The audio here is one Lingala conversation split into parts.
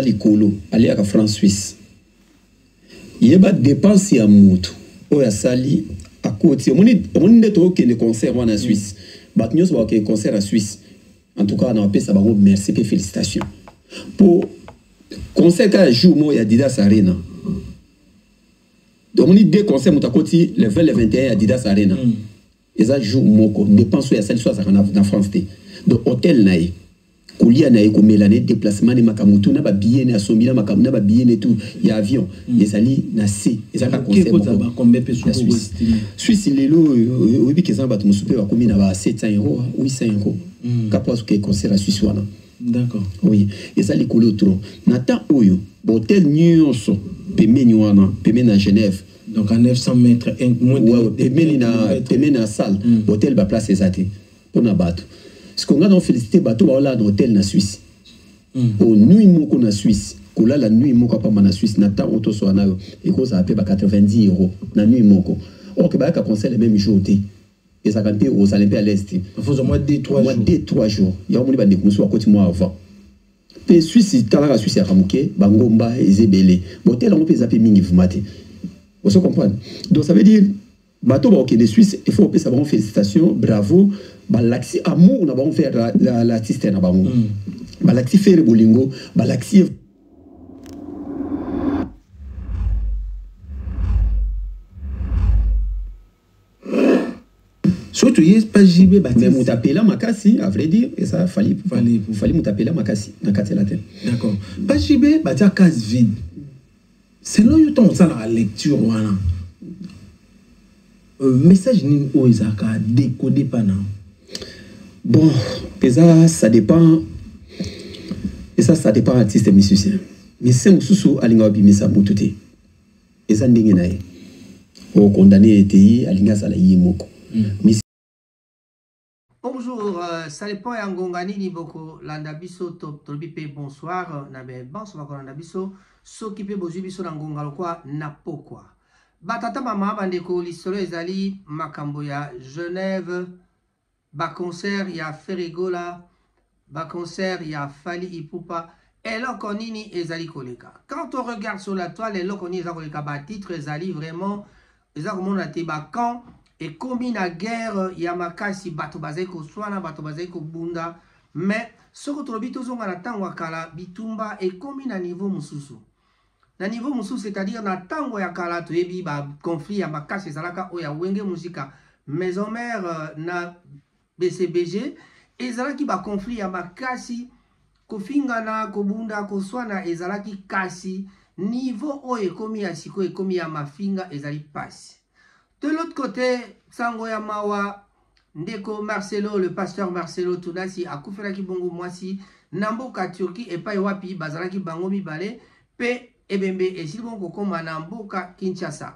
likolo aliaka franc suisse yeba dépense ya motu oyo asali akoti omoni nde tokende concert wana ya suisse bato nyonso bakokende concert ya suisse en tout cas napesa bango merci mpe félicitation mpo concert kaka jour moko ya didas arena omoni deux concert moto akoti le 20 le 21 ya didas arena mm. eza jour moko dépense oyo asali so azalaka na, na france te donc hôtel na ye kolia na ye komela na ye déplacement ne makambo tu na babillet ne asombi na makambo na babillet ne tu ya avion mm. ezali na se ezaka conseilsuisse suisse lelo oyebi ke eza na bato mosusu mpe bakomi na ba 700 euro 800 euro kapo azoke concert ya suisse wana D'accord. Oui, et ça les couleurs trop. Nata Oyo, hôtel Nyonso, pemeni wana, pemeni na Genève. Donc à 900 mètres, un, moins de, ouais, de pemeni na pemeni na salle, mm. hôtel ba place ezati pour na bato. Ce qu'on a donc félicité bato ba là hôtel na Suisse. Mm. Au nuit moko na Suisse. kolala nuit moko apamba na suisse na ntango toswa nayo ekozala mpe ba 90 euro na nuit moko orke bayaka conseil le même jour te ezalaka mpe ozala mpe aleste mwa de trois jours yango moni bandeko mosusu bakoti mwa avant mpe swisi talaka swisi yaka moke bangomba eza ebele botele yango mpe eza mpe mingi vuma te ozo comprendre donc ça veut dire bato bakokende swisse il faut kopesa bango félicitation bravo balakisi amour na bango mpe l'artiste na bango mm. balakisi fere bolingo balakisi soki toye pa jb mais moto apela makasi à vrai dire eza fali fali moto apela makasi na kati ya latin d'accord pa jb batia case vide selon yo ntango osalaka lecture wana euh, message nini oyo ezalaka dekode mpa na bon eza ça dépend eza ça dépend artiste musicien musicien mosusu alingaka bimisa motu te eza ndenge na ye okondane ye te ye alingi asala ye moko mm. Bonjour, euh, ça dépend ya ngonga nini boko landa biso tolobi mpe bonsoir na be banso bakolanda biso soki mpe bozwi biso na ngonga lokwa na pokwa batata mama bandeko lisolo ezali makambo ya genève Ba concert ya Ferre Gola, ba concert ya Fally Ipupa, eloko nini ezali koleka? Quand on regarde sur la toile, eloko nini eza koleka? Ba titres ezali vraiment, eza komonana te ba camps ekomi na guerre ya makasi, bato bazali koswana, bato bazali kobunda, mais soko tolobi tozonga na tango ya kala, bitumba ekomi na niveau mosusu. Na niveau mosusu c'est-à-dire na tango ya kala toyebi ba conflit ya makasi ezalaka oyo ya Wenge Musika maison mère euh, na BCBG ezalaki ba conflit ya makasi kofingana kobunda koswana ezalaki kasi niveau oyo ekomi ya sikoyo ekomi ya mafinga ezali pasi de l'autre côté sango ya mawa Ndeko Marcelo, le pasteur Marcelo Tunasi akufelaki bongo mwasi na mboka Turquie epai wapi bazalaki bango mibale mpe ebembe esili bongo kokoma na mboka Kinshasa.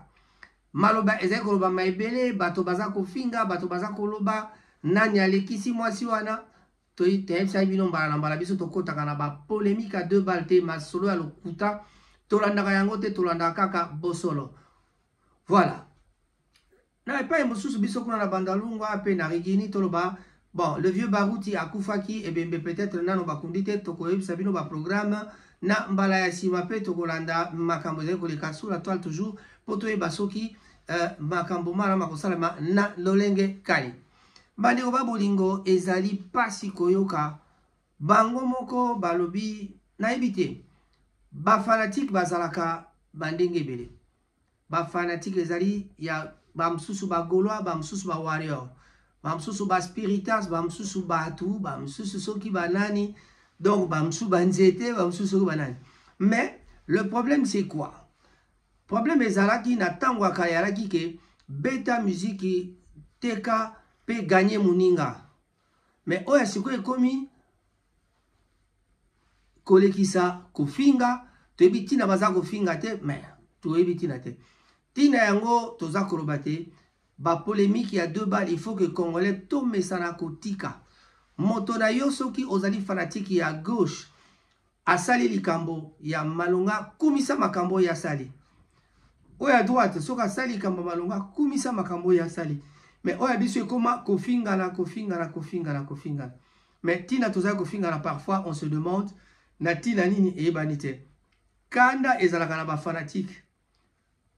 Maloba ezali kolobama ebele, bato baza kofinga, bato baza koloba nani alekisi mwasi wana. Toyebisaki bino mbala na mbala, biso tokotaka na bapolemike ya deux balles te, masolo ya lokuta tolandaka yango te, tolandaka kaka bosolo. Voilà. Na epai mosusu, biso kuna na Bandalungwa mpe na Rigini, toloba bon le vieux Baruti akufaki, ebembe peut-etre nano bakundi te, tokoyebisa bino ba programmes na mbala ya nsima mpe tokolanda makambo ezali koleka sous la toile toujours mpo toyeba soki euh, makambo mana makosalema na lolenge kani. Bandeko ba bolingo, ezali mpasi koyoka bango moko balobi nayebi te bafanatike bazalaka bandenge ebele Ba fanatique ezali ya ba mususu ba golois ba mususu ba warrior ba mususu ba spiritas ba mususu batu ba mususu soki ba nani donc ba mususu ba nzete ba mususu soki ba nani mais le problème c'est quoi problème ezalaki na ntango ya kala yalaki ke beta miziki teka pe gagne moninga Mais oyo ya sikoyo ekomi kolekisa kofinga toyebi ntina baza kofinga te mais toyebi ntina te ntina yango toza koloba te bapolemike ya deux bal il faut que congolais tomesana kotika moto na yo soki ozali fanatike ya gauche Asali likambo ya malonga, kumisa makambo oyo asali. Oyo ya droite, soki asali likambo ya malonga, kumisa makambo oyo asali. Mais oyo ya biso ekoma kofingana, kofingana, kofingana, kofingana. Mais tina tozali kofingana, parfois on se demande na tina nini eyebani te. Kanda ezalaka na ba fanatiques.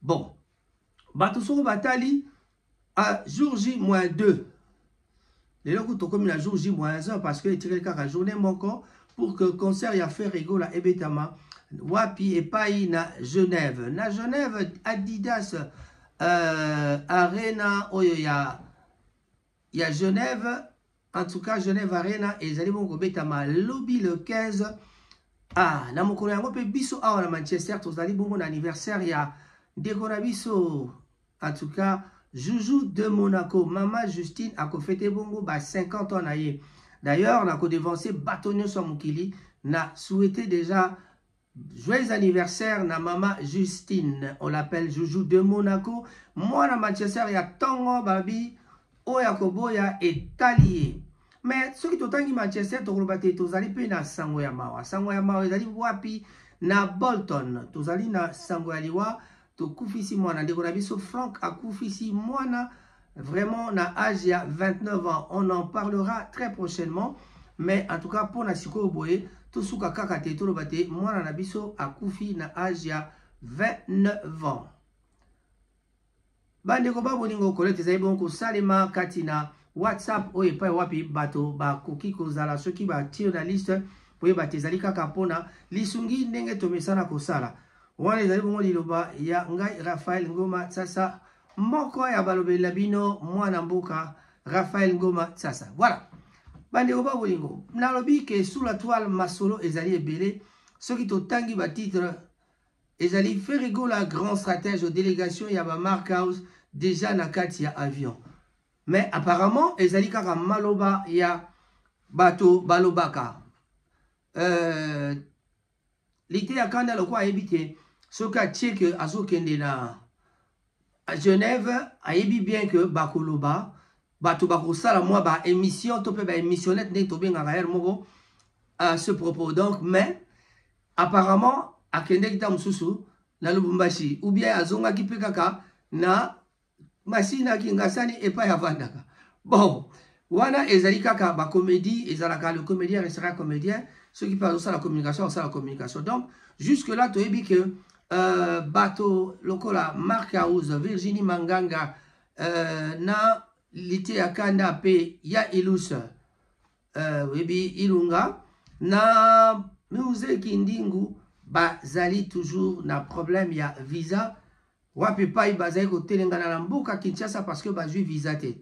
bon bato soko batali a jour j moins 2 lelo kutu tokomi na jour j moins 1 parce que etikali kaka journée moko pour que concert ya fer egola ebetama wapi epai na genève na genève adidas euh, arena oyo ya ya Genève en tout cas Genève Arena ezali bongo kobetama lobi le 15 ah, na mokolo yango mpe biso awa na Manchester tozali bongo na anniversaire ya ndeko na biso en tout cas Joujou de Monaco mama Justine akofete bongo ba 50 ans na ye d'ailleurs nakodevanse bato nyonso ya mokili na souhaite déjà Joyeux anniversaire na mama Justine, on l'appelle Joujou de Monaco, mwana Manchester ya tongo babi oyo akoboya etali ye. Mais soki totangi Manchester tokoloba te tozali mpe na sango ya mawa. Sango ya mawa ezali wapi? Na Bolton tozali na sango ya liwa Tokufisi mwana ndeko na biso Franck akufisi mwana vraiment na âge ya 29 ans on en parlera très prochainement mais en tout cas mpo na sikoyo boye tosuka kaka te toloba te mwana na biso akufi na age ya 29 ans bandeko babolingo kolete ezali bongo kosalema kati na whatsapp oyo epai wapi bato bakoki kozala soki batie na liste boyeba te ezali kaka mpona lisungi ndenge tomesana kosala Wana ezali bongo liloba ya ngai Raphaël Ngoma Tsasa, moko ya balobeli na bino mwana mboka Raphaël Ngoma Tsasa. Voilà. Bandeko ba bolingo, nalobi ke sous la toile masolo ezali ebele soki totangi ba titre ezali Ferregola grand stratège aux délégations ya ba Mark House déjà na kati ya avion. Mais apparemment ezali kaka maloba ya bato balobaka. Euh, Liteya kanda lokola ayebi ke soki atie ke azokende na Genève ayebi bien ke bakoloba bato bakosala mwa ba émission to mpe ba émissionnette ndenge tobengaka heure moko à ce propos donc mais apparemment akendeki ntango mosusu na lubumbashi ou bien azongaki mpe kaka na Masina Kingasani epai avandaka. Bon, wana ezali kaka ba comédie ezalaka le comédien restera comédien soki mpe azosala communication akosala communication donc jusque là toyebi ke euh, bato lokola mark house virginie manganga euh, na lite ya kanda mpe ya ilus euh, oyebi ilunga na muse kindingu bazali toujours na problème ya visa Wapi epai bazali kotelengana na mboka Kinshasa parce que bazwi visa te.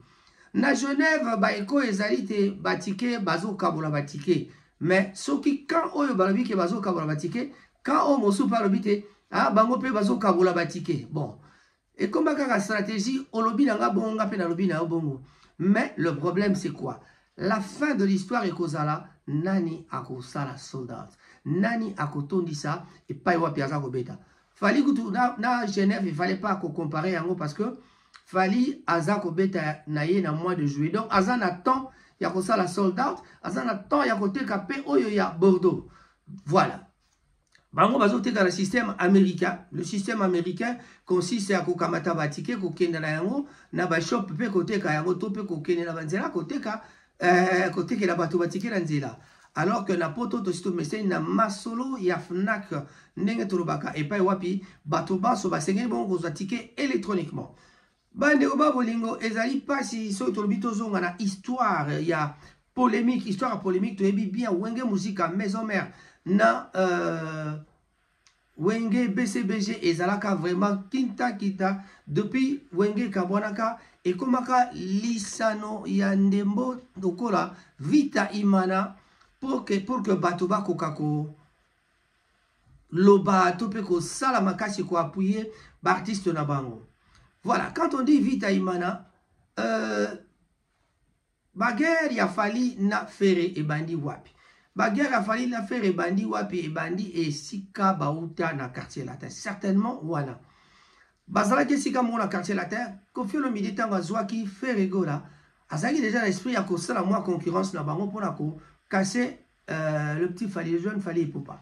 Na Genève ba eko ezali te ba ticket bazokabola ba ticket. Mais soki camp oyo balobi ke bazokabola ba ticket, camp oyo mosusu mpe alobi te ah bango mpe bazokabola ba ticket. Bon, ekoma kaka stratégie olobi na nga bongo nga mpe nalobi na yo bongo. Mais le problème c'est quoi? La fin de l'histoire ekozala nani akosala sold out? Nani akotondisa epai wapi aza kobeta? Fally kutu na, na Genève il fallait pas ko comparer yango parce que Fally aza ko beta na ye na mois de juillet. Donc aza na temps ya ko sala sold out, aza na temps ya ko teka pe oyo ya Bordeaux. Voilà. Bango bazo teka na système américain. Le système américain consiste à kokamata ba tickets, kokenda na yango na ba shop pe koteka yango to pe kokende na banzela koteka Eh, kotekela bato batikela nzela alors que na poto tosi tomeseni na masolo ya fnac ndenge tolobaka epai wapi bato banso basengeli bongo kozwa tike électroniquement bandeko ba bolingo ezali mpasi soki tolobi tozonga na histoire ya polémique histoire ya polémique toyebi bien wenge musika maison mère na euh, Wenge BCBG ezalaka vraiment kinta kita depuis Wenge kabwanaka ekomaka lisano ya ndembo lokola Vita Imana pour que, pour que bato bakoka ko loba to mpe kosala makasi ko appuyer baartiste na bango voilà quand on dit Vita Imana euh, Ba guerre ya Fally na Ferre ebandi wapi? Ba guerre ya Fally na Ferre ebandi wapi? Ebandi esika bauta na quartier latin. Certainement wana. Bazalaki esika moko na quartier latin, Koffi Olomide ntango azwaki Ferre Gola, azalaki deja na esprit ya kosala mwa concurrence na bango mpo na ko casser euh, le petit Fally, le jeune Fally Ipupa.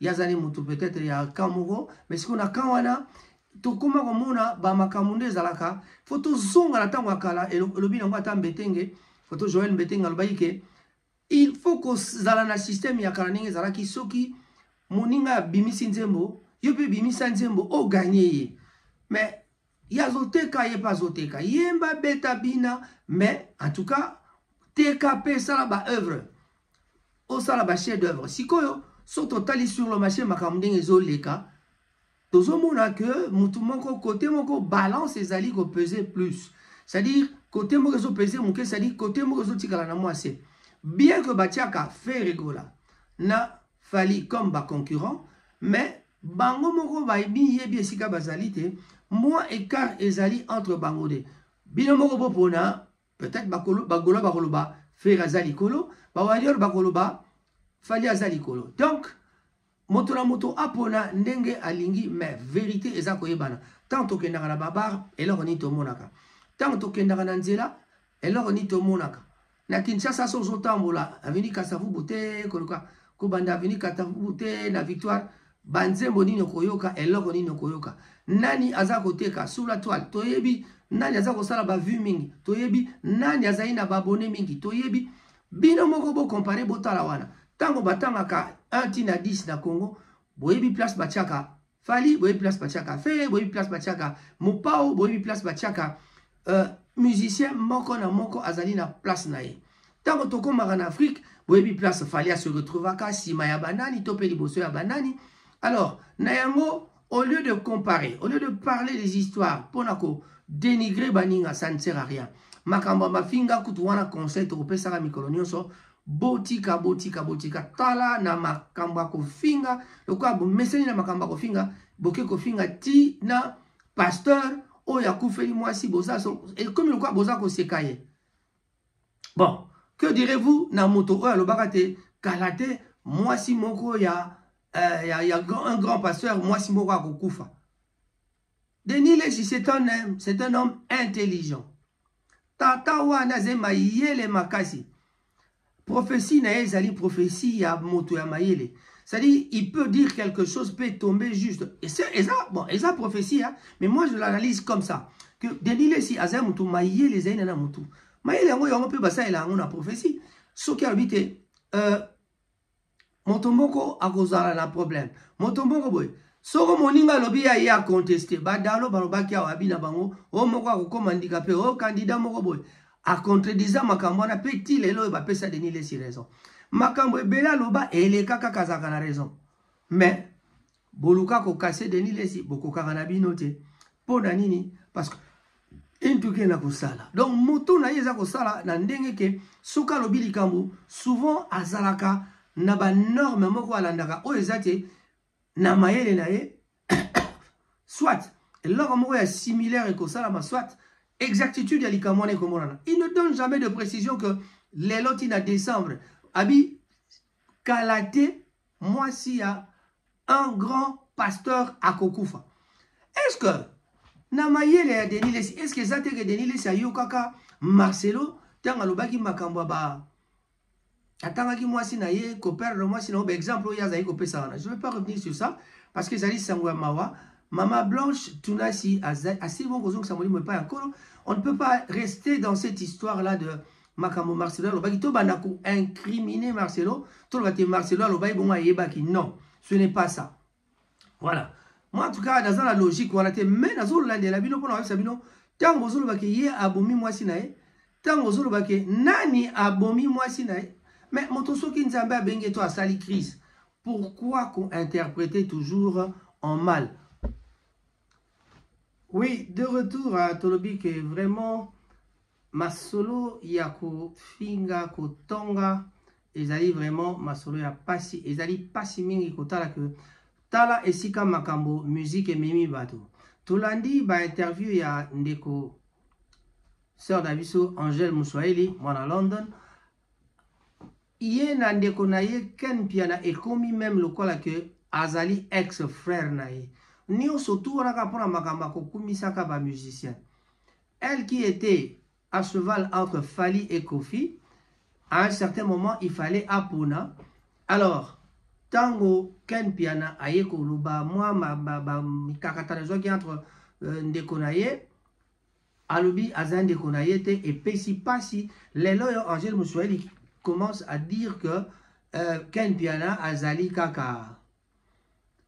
ye azali motu peut-être ya camp moko mais sikoyo na camp wana tokoma komona bamakambo nde ezalaka fo tozonga na ntango ya kala elobi nango ata mbetenge foto joel mbetenge alobaki ke il faut kozala na systeme ya kala ndenge ezalaki soki moninga abimisi nzembo yo mpe bimisa nzembo oganye ye mais Ye azo teka ye pe azo teka yemba beta bina mais en tout cas teka pe sala ba œuvre osala ba chef d'œuvre sikoyo so totali sur le marché makambo ndenge ezoleka tozomona ke motu moko kote moko balance ezali kopese plus c'est-à-dire kote moko ezopese moke c'est-à-dire kote moko ezotikala na mwase bien ke batiaka fe regola na Fally comme ba concurrents mais bango moko ba miyebi esika bazali te mwa écart ezali entre bango de bino moko bopona peut-être bakolo bagola bakoloba Ferre aza likolo ba warrior bakoloba Fally aza likolo donc moto na moto apona ndenge alingi mais verité eza koyebana ntango tokendaka na babar eloko nini tomonaka ntango tokendaka na nzela eloko nini tomonaka Na Kinshasa so ozo tambola avenue Kasavubu te koloka kobanda avenue Kasavubu te na victoire banzembo nini okoyoka eloko nini okoyoka nani aza koteka sur la toile toyebi nani aza kosala bavue mingi toyebi nani azali na babone mingi toyebi bino moko bokompare botala wana ntango batangaka 1 ti na 10 na congo boyebi place batiaka Fally boyebi place batiaka Ferre boyebi place batiaka Mopao boyebi place batiaka euh, musicien moko na moko azali na place na ye ntango tokomaka na Afrique boyebi place Fally a se retrouvaka nsima ya banani to mpe liboso ya banani alors na yango au lieu de comparer au lieu de parler des histoires mpo na ko dénigrer baninga ça ne sert à rien makambo ya mafinga kutu wana conseil tokopesaka mikolo nyonso Botika, botika, botika. Tala na makambo ya kofinga, lokola bomeseni na makambo ya kofinga, boke kofinga ti na pasteur oyo akufeli mwasi, boza so, ekomi lokola boza koseka ye. Bon, que direz-vous na moto oyo alobaka te kala te mwasi moko ya, euh, ya, ya un grand pasteur mwasi moko akokufa Denis Lessi c'est un homme, c'est un homme intelligent. Tata wana aza mayele makasi. Prophétie na ye ezali prophétie ya moto ya mayele. C'est-à-dire, il peut dire quelque chose, peut tomber juste. Et ça, et ça bon, et ça prophétie, hein, mais moi je l'analyse comme ça. Que Denis Lessi, aza mutu, mayele ezali na mutu. Mayele yango yango pe basala yango na prophétie. Soki alobi te, euh, moto moko akozala na problème moto moko boye soko moninga alobi ya ye akonteste badalo balobaki awa abi na bango o oh, moko akokoma ndika mpe o oh, kandida moko boye acontredisa makambo wana mpe ti lelo oyo bapesa denis lesi raison makambo ebele aloba elekaka kazalaka na raison mais Boluka ko casser Denis Lessi bokokaka na bino te. Pona nini? Parce que en tout cas na kosala. Donc moto na ye eza kosala na ndenge ke soki alobi likambo souvent azalaka na ba norme moko alandaka oyo eza te na mayele na ye soit eloko moko ya similaire ekosalama soit exactitude ya likambo wana ekomonana il ne donne jamais de précision que lelo ti na décembre abi kala te mwasi ya un grand pasteur akokufa est ce que na mayele ya denis lesi est ce que eza te ke denis lesi ayokaka marcelo ntango alobaki makambo ya ba atangaki mwasi na ye koperdre mwasi na yo baexemple oyo azali kopesa wana je veux pas revenir sur ça parce que ezali sango ya mawa mama blanche tunasi asili bongo kozongisa molimo epai ya nkolo on ne peut pas rester dans cette histoire là de makambo marcelo alobaki tobanda ko incrimine marcelo toloba te marcelo alobaki bongo ayebaki non ce n'est pas ça voilà moi en tout cas naza na logique wana te mais nazolandela bino mpona koyebisa bino ntango ozoloba ke ye abomi mwasi na ye ntango ozoloba ke nani abomi mwasi na ye mais moto soki nzambe abengi ye to asali crise pourquoi kointerprete toujours en mal oui de retour tolobi ke vraiment Masolo ya ko finga ko tonga ezali vraiment masolo ya pasi ezali pasi mingi kotala que tala esika makambo musique ememi bato tolandi ba interview ya ndeko sœur na biso Angèle Muswahili mwana London ye na ndeko na ye Ken Mpiana ekomi meme lokola que azali ex frère na ye nioso tu wana kaka mpona makambo ya kokumisaka ba musiciens Elle qui etait à cheval entre Fally et Kofi, à un certain moment, il fallait apona. Alors, tango Ken Piana aye koloba mwa mikakatano ezwaki entre euh, ndeko na ye alobi aza ndeko na ye te epesi mpasi lelo oyo angele moswahili commence à dire que euh, Ken Piana azali kaka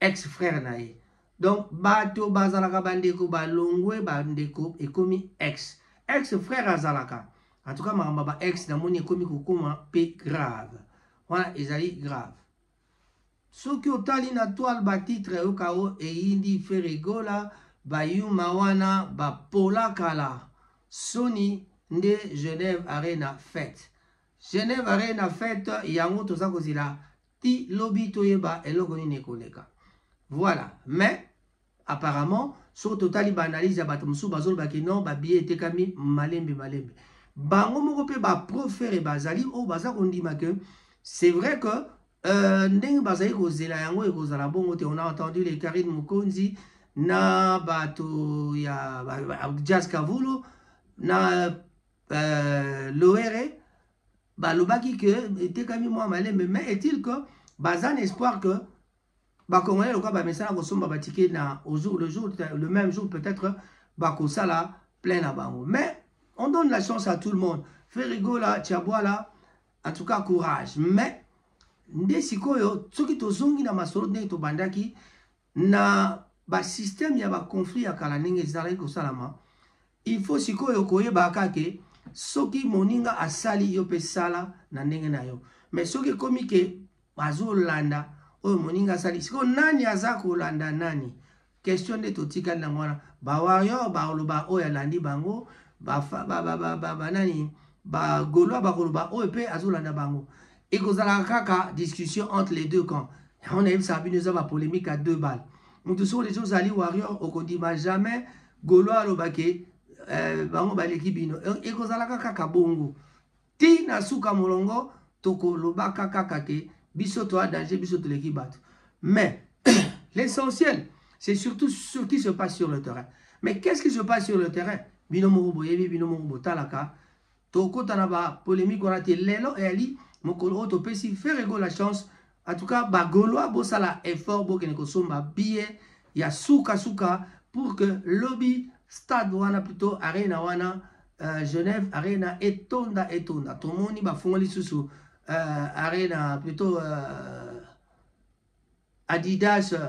ex frère na ye donc bato bazalaka bandeko balongwe bandeko ekomi ex ex frère azalaka en tout cas makambo ba ex namoni ekomi kokoma pe grave wana ezali grave soki otali na toile batitre yoka o eyindi feregola bayuma wana bapola kala soni nde genève arena fete genève arena fete yango toza kozela ti lobi toyeba eloko nini ekoleka voilà mais apparemment soki totali baanalyse ya bato mosusu bazoloba ke non babiye etekami malembe malembe bango moko mpe baprofere bazali oyo baza kondima ke c'est vrai que euh, ndenge bazali kozela yango ekozala bongo te on a entendu le carine mokonzi na bato ya jazz kavulo na euh, loere balobaki ke etekami mwa malembe mais est-il que baza na espoir que bakongolais lokola bamesana kosomba batike na au jour le jour le même jour peut-être bakosala plein na bango mais on donne la chance à tout le monde ferigola tiabwala en tout cas courage mais nde sikoyo soki tozongi na masolo ndenge tobandaki Na ba système ya ba conflit ya kala ndenge ezalaki kosalama, il faut sikoyo koyebaka kaka ke soki moninga asali yo pe sala na ndenge na yo. Mais soki ekomi ke bazolanda oyo moninga asali, sikoyo nani aza kolanda nani? Question nde totikali nango wana. Ba warrior bakoloba oyo alandi bango, ba, ba, ba, ba, ba, ba nani ba golois bakoloba oyo pe azolanda bango. Ekozalaka kaka discussion entre les deux camps. Yango nayebisaka bino eza ba polemique à deux balles. Moto soki oleki ozali warrior okondima jamais Gaulois aloba ke eh, bango baleki bino. E, ekozalaka kaka bongo. Ti na suka molongo tokolobaka kaka ke biso toa danger biso toleki bato. Mais l'essentiel c'est surtout ce qui se passe sur le terrain. Mais qu'est-ce qui se passe sur le terrain? Bino moko boyebi bino moko botalaka Tokota na ba polemique wana te. Lelo eyali mokolo oyo topesi Ferre Gola chance. En tout cas, ba Golois bosala effort bokende kosomba billet ya suka suka pour que lobi stade wana plutôt arena wana euh, Genève arena etonda etonda. Tomoni bafungoli susu euh, arena plutôt euh, Adidas euh,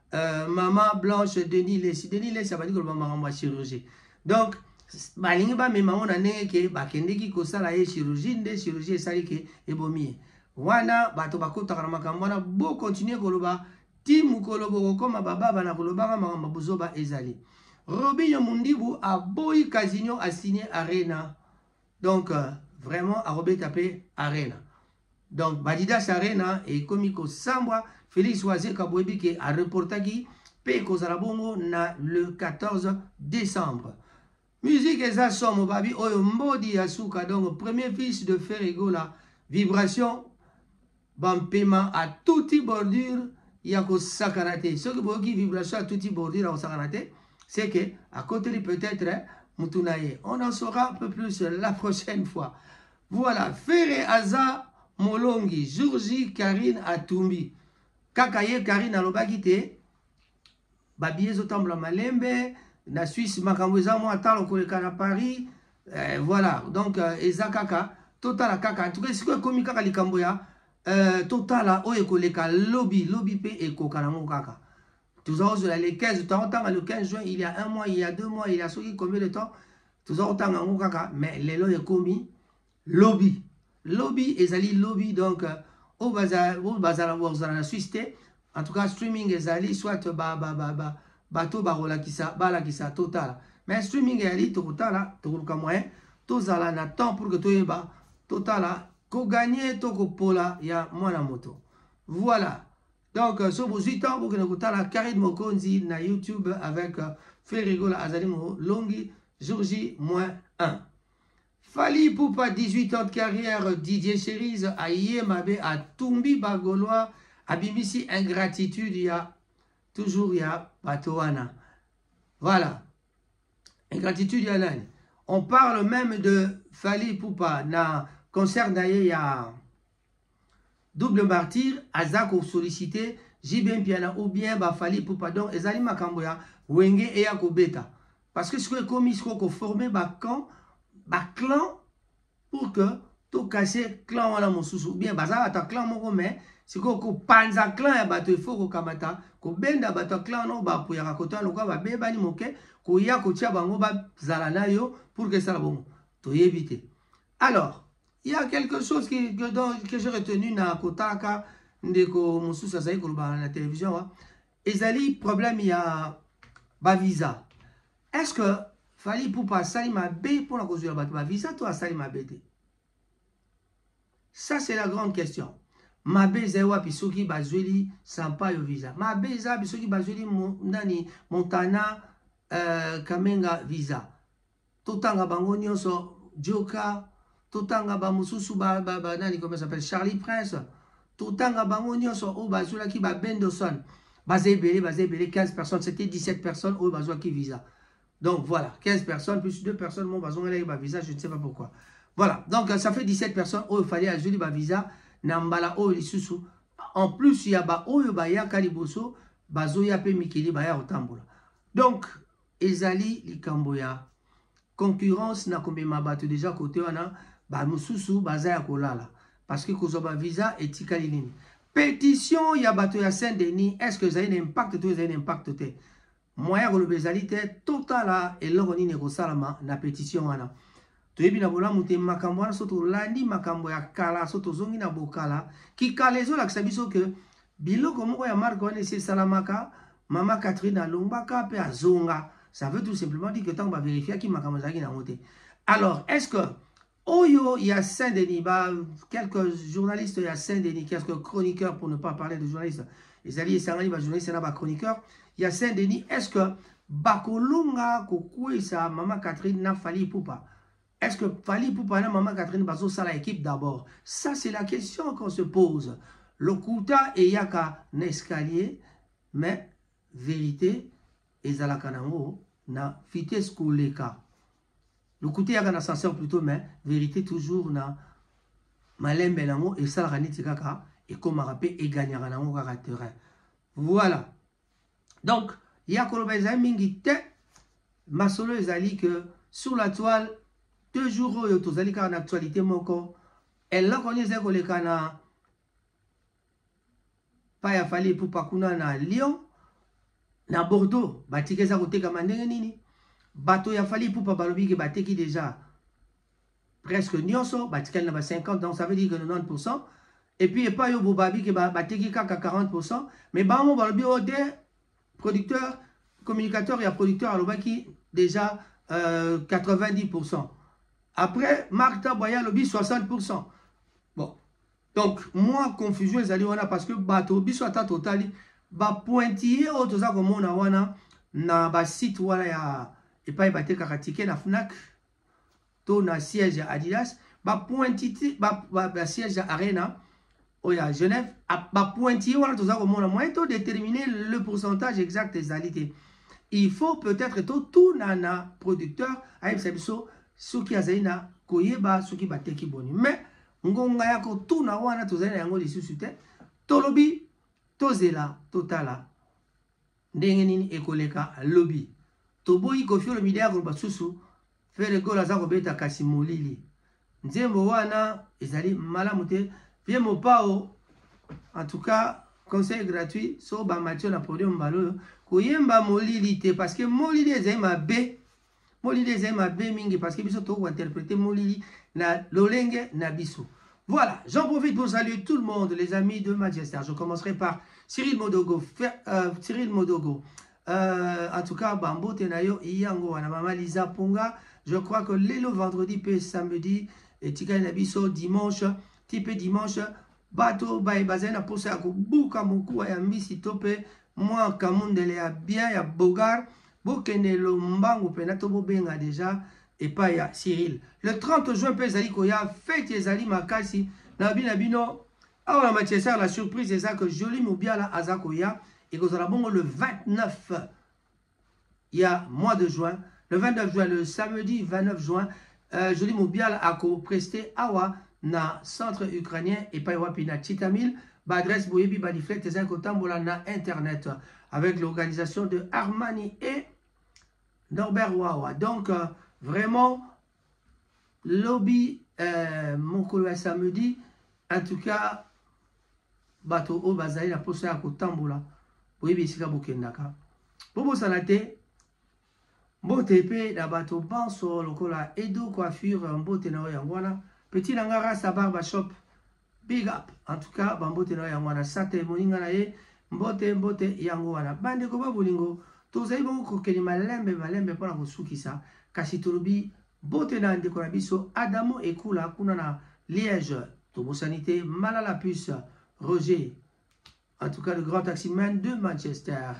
Euh, maman Blanche Denis Lessi Denis Lessi abandi koloba makambo ya chirurgie donc balingi bamema yango na ndenge ke bakendeki kosala ye chirurgie nde chirurgie esali ke ebomi ye wana bato bakotaka na makambo wana bokontinue koloba ti mokolo bokokoma bababa na kolobaka makambo buzoba ezali robinho mundibu aboyi casino asigne arena donc euh, vraiment akobeta mpe arena Donc Adidas Arena ekomi kosambwa, Felix Wazeka boyebi ke a reportaki pe ekozala bongo na le 14 décembre. Musique eza somo babi oyo mbodi ya suka donc premier fils de Ferre Gola vibration bampema a tuti bordure ya kosakana te soki boyoki vibration ya tuti bordure ya kosakana te c'est que akoteli peut-être mutu na ye on en saura un peu plus la prochaine fois Voilà ferre aza molongi jour J Carine atumbi kaka ye Carine alobaki te ba billets ezotambola malembe na Suisse makambo eza mwa talo koleka na Paris eh, voilà donc euh, eza kaka totala kaka en tout cas sikoyo ekomi kaka likambo ya euh, totala oyo ekoleka lobi lobi mpe ekoka nango kaka tozozela le 15 totanga le 15 juin il y a un mois il y a deux mois il y a soki combien de temps toza kotanga yango kaka mais lelo ekomi lobi lobi ezali lobi donc euh, oyo bazala kozala na suisse te en tout cas streaming ezali soit bato bakolakisa balakisa totala mais streaming ezali tokotala tokoluka moyen tozala na temps pour que toyeba totala koganye to kopola ya mwana moto voilà Donc, euh, so bozui temps bokende kotala Carine Mokonzi na YouTube avec euh, Ferry Gola azali molongi jour J moins 1. Fali Poupa 18 ans de carrière Didier Cherise aye mabe atumbi bagolois abimisi ingratitude ya toujours ya bato wana. Voilà. Ingratitude ya nani? On parle même de Fali Poupa na concert na ye ya double martyr aza ko sollicite JB Mpiana ou bien ba Fally Ipupa donc ezali makambo ya wenge eya kobeta parce que sikoyo ekomi sikoyo ko former ba camp ba clan pour que to casser clan wana mosusu ou bien baza bato ya clan moko mais sikoyo kopanza clan ya bato ifo kokamata kobenda bato ya clan wana oyo bapuyaka koto wana lokola babebani moke koya kotia bango bazala na yo pour que esala bongo toyebi te Alors, il y a quelque chose qui, que, dont, que j'ai retenu na kotaka ndeko mosusu azali koloba na télévision hein. ezali problème ya bavisa est ce que fali pupa asali mabe mpona kozwela bato bavisa to asali mabe te ça c'est la grande question mabe ezali wapi soki bazweli sampayo visa mabe eza wapi soki bazweli mo, nani montana euh, kamenga visa Totanga bango nionso Djoka, totanga ba mususu ba, ba, ba nani comment s'appelle Charlie Prince, totanga bango nionso oyo bazwelaki ba Bendoson. Baza ebele, baza ebele 15 personnes, c'était 17 personnes oyo bazwaki visa. Donc voilà, 15 personnes plus 2 personnes mon bazon ba visa, je ne sais pas pourquoi. Voilà, donc ça fait 17 personnes oyo fallait azweli ba visa na mbala oyo lisusu. En plus ya ba oyo bayaka liboso bazoya pe mikili baya kotambola. Donc Ezali likambo ya concurrence na komema bato deja kote wana bamosusu baza ya kolala parce que kozwa bavisa etikali nini pétition ya bato ya saint denis est ce que ezali na impact to ezali na impact te moyen ya koloba ezali te totala eloko nini ekosalama na pétition wana Toyebi na bolamu te makambo wana, so tolandi makambo ya kala, so tozongi na bokala. Kikala ezolakisa biso ke biloko moko ya marke wana esi esalamaka, mama Catherine alongwaka mpe azonga. Ça veut tout simplement dire que ntango baverifiaki makambo ezalaki na yango te. Alors, est ce que Oyo ya Saint-Denis, bah, quelques journalistes ya Saint-Denis, quelques chroniqueurs pour ne pas parler de journalistes, ezali esangani ba journalistes na ba chroniqueurs ya Saint Denis est ce que bakolonga kokweyisa mama Catherine na Fally Ipupa est ce que Fally Ipupa na mama Catherine bazosala équipe d'abord ça c'est la question qu'on se pose lokuta eyaka na escalier mais vérité ezalaka nango na vitesse koleka lokuta eyaka na senseur plutôt mais vérité toujours na malembe nango esalaka neti kaka ekomaka mpe eganyaka nango kaka terrain Voilà. Donc, ya koloba ezali mingi te. Masolo ezali que sur la toile, deux jours oyo tozali kaka na actualité moko. Eloko nini ezali koleka na pa ya Fally Ipupa kuna na Lyon, na Bordeaux, batiki eza kotekama ndenge nini? Bato ya Fally Ipupa balobi ke bateki deja presque nionso batikali na ba 50 donc ça veut dire que 90% et puis epai yo bobabi ke bateki kaka 40% mais bango balobi oyo oh, te producteur communicateur ya producteur alobaki déjà euh, 90% après mark tabwa ye alobi 60% bon donc moi confusion ezali wana parce que bato biso ata totali bapointille oyo toza komona wana na basite wana ya epai batekaka tike na fnac to na siège ya adidas bapointite basiège ya arena oyo ya genève bapointille wana toza komona moyen to déterminer le pourcentage exact ezali te il faut peut-être totuna na producteur ayebisa biso soki azali na koyeba soki bateki boni mais ngonga ya kotuna wana tozali na yango lisusu te tolobi tozela totala Ndenge nini ekoleka lobi. Toboyi koffi olomide akoloba susu ferre gola aza kobeta kasi molili nzembo wana ezali malamu te vie mopao en tout cas conseil gratuit so bamati yo na podium mbala oyo koyemba molili te parce que molili ezali mabe molili ezali mabe mingi parce que biso tokoki kointerprete molili na lolenge na biso voilà j'en profite pour saluer tout le monde les amis de Manchester je commencerai par Cyril Modogo Fer, euh, Cyril Modogo euh, en tout cas bambote na yo yango wana mama Lisa Ponga je crois que lelo vendredi pe samedi etikali na biso dimanche ti pe dimanche Bato baye bazali na posa ya kobuka mokuwa ya mbisi to pe mwa kamundele ya bien ya beaugar bokende lombangu pena to bobenga deja epai ya Cyril. Le 30 juin pe ezali koya feti ezali makasi na bina bino awa na Manchester la surprise eza que Jolie Mubiala aza koya ekozala bongo le 29 ya mois de juin le 29 juin le samedi 29 juin euh, Julie Mubiala ako prester awa na centre ukrainien epai wapi na Chitamil ba adresse boyebi ba deflect ezali kotambola na internet avec l'organisation de Armani et Norbert Wawa donc euh, vraiment lobi eh, mokolo ya samedi en tout cas bato oyo bazali na mposa ya kotambola boyebi esika bokendaka bobosana te mbote mpe na bato banso lokola edo coiffure mbote na yo yango wana petit na nga rasta barba shop Big up en tout cas ba mbote na yango wana sate moninga na ye mbote mbote yango wana bandeko ba bolingo tozali bongo kokeli malembe malembe mpo na kosukisa kasi tolobi bote na ndeko na biso adamo ekula kuna na liège tobosani te malala puce roger en tout cas le grand taximan de manchester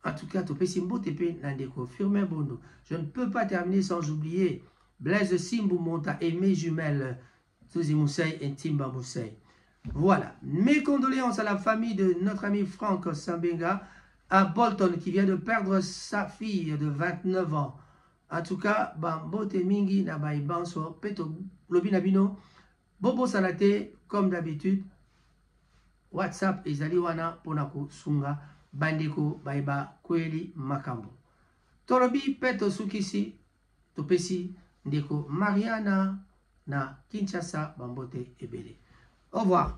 en tout cas topesi mbote mpe na ndeko firmin bondo je ne peux pas terminer sans oublier blaise simbu monta aimé jumelle Zuzi Moussaï et Timba Moussaï. Voilà. Mes condoléances à la famille de notre ami Franck Sambenga à Bolton qui vient de perdre sa fille de 29 ans. En tout cas, Bambote Mingi na Baibanso, Peto Lobina Bino, Bobo Salate, comme d'habitude, WhatsApp et Zaliwana Ponako Sunga, Bandeko Baiba Kweli Makambo. Tolobi Peto Sukisi, Topesi ndeko Mariana na Kinshasa bambote ebele. Au revoir.